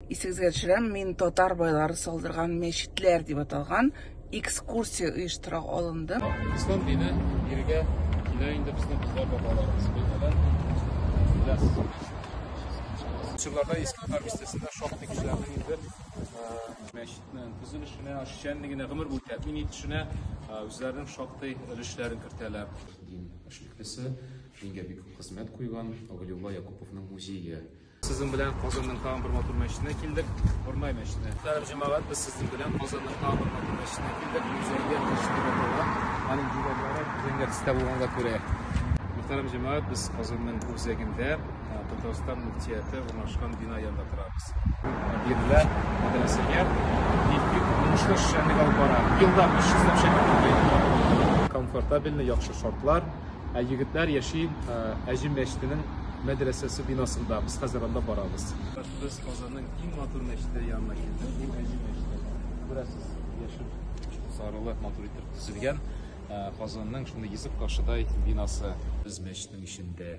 Исегезгә төшерәм, мин татар байлары салдырган мәчетләр дип аталган экскурсия оештыра алындым. Ислам дине иргә килә инде безнең кызлар бабаларыбыз белән. Чырларда иске татар бистәсендә шактый кешеләрнең инде мәчетнең төзелешенә, эшчәнлегенә, гомер буе тәэмин итешенә үзләренең шактый өлешләрен кертәләр. Дин эшлеклесе, дингә бик күп хезмәт куйган Авылиулла Якуповның музее Сезнең белән Казанның тагын бер матур мәчетенә килдек, Урмай мәчетенә. Мөхтәрәм җәмәгать, без сезнең белән Казанның тагын бер матур мәчетенә килдек. Үзәге мәчетендә булган, аның диварлары үзәнгә төстә булганга күрә. Мөхтәрәм җәмәгать, без Казанның үзәгендә Татарстан мөфтияте урнашкан бина янында торабыз. Бирлә мәдрәсәгә бик-бик уңышлы эшчәнлек алып бара. Елда 300 ләп шәкерт укый. Комфортабельный, яхшы шартлар. Ә егетләр яши Әҗем мәчетенең мәдрәсәсе бинасында. Без хәзер анда барабыз. Без Казанның иң матур мәчете янына килдек. Бу Әҗем мәчете. Күрәсез, яшел сарылы матур итеп төзелгән Казанның шундый йөзек кашыдай бинасы. Без мәчетнең эчендә.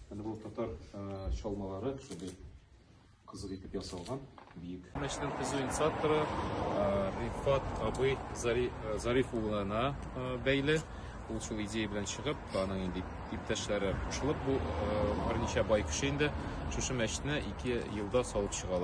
Менә бу татар чалмалары шундый кызык итеп ясалган, биек. Мәчетнең төзү инициаторы Рифат абый Зариф улына бәйле. Ул шул идея белән чыгып, аның инде иптәшләре кушылып, бу берничә бай кеше инде шушы мәчетне ике елда салып чыгалар.